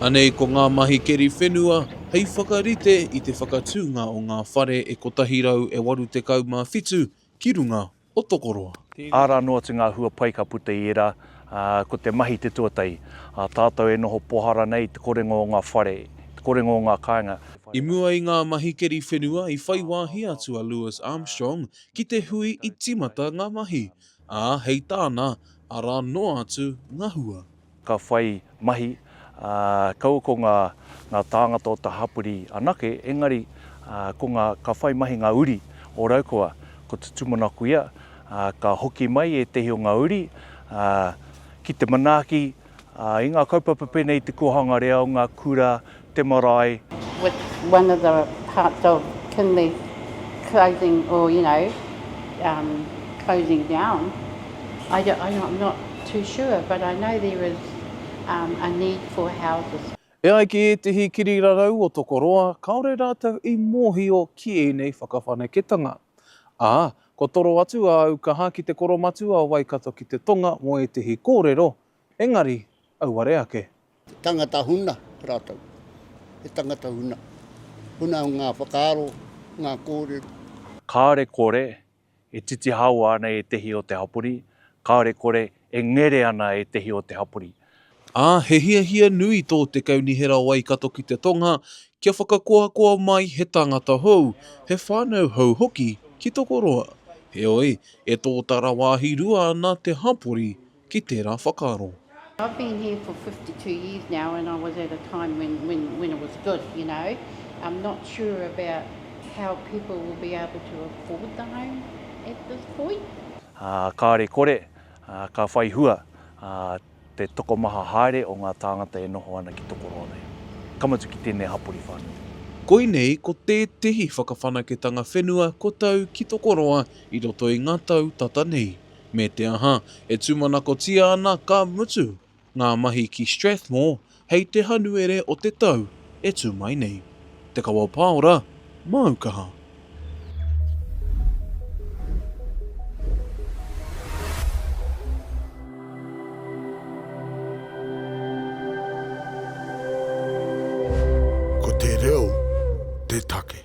Anei ko ngā mahi keri whenua hei whakarite i te whakatūnga o ngā whare e 187 ki runga o Tokoroa. Āra anō atu ngā hua pai ka puta i ērā, ā, ko te mahi te tuatahi. Ā tātou e noho pohara nei i te korenga o ngā whare, i te korenga o ngā kāinga. I mua i ngā mahi keri whenua i whai wāhi atu a Lewis Armstrong ki te hui i tīmata ngā mahi. Ā, hei tāna, arā noa atu ngā hua. Ka whai mahi, ā, kaua ko ngā, ngā tāngata o te hapori anake, engari, ā, ko ngā, ka whai mahi ngā uri o Raukawa, ko te tūmanakoia, ā, ka hoki mai ētehi o ngā uri, ā, ki te manaaki, I ngā kaupapa pēnei i te kōhanga reo, ngā kura, te marae. with one of the parts of Kinley closing or you know um closing down I don't I I'm not too sure but I know there is um a need for houses. E ai ki ētehi kirirarau o Tokoroa, kāore rātou i mōhio ki ēnei whakawhanaketanga. Ā, kua toro atu āu kaha ki te koromatua o Waikato ki te tonga mō ētehi kōrero, engari, auare ake. He tangata huna rātou. He tangata huna. Huna ngā whakaaro, ngā kōrero. Kāore kore e titihaoa ana ētehi o te hapori, kāore kore E ngere ana ētehi o te hapori. Ā, he hiahia nui tō te Kaunihera o Waikato ki te Tonga kia whakakoakoa mai he tāngata hou, he whānau hou hoki ki Tokoroa. Heoi, e tōtara wāhi rua ana te hapori ki tērā whakaaro. I've been here for fifty two years now and I was at a time when when when it was good you know I'm not sure about how people will be able to afford the home at this point. Ā, kāre kore, ā, ka whai hua, ā, te tokomaha haere o ngā tāngata e noho ana ki tō koroa nei. Ka mutu ki tēnei hapori whānui. Koinei ko tētehi whakawhanaketanga whenua kua tau ki tō koroa i roto i ngā tau tata nei. Me te aha, e tūmanakotia ana, ka mutu, Ngā mahi ki Strathmore hei te Hanuere o te tau e tū mai nei. Te Kawa o Pāora, māu kaha. Ko te reo te take.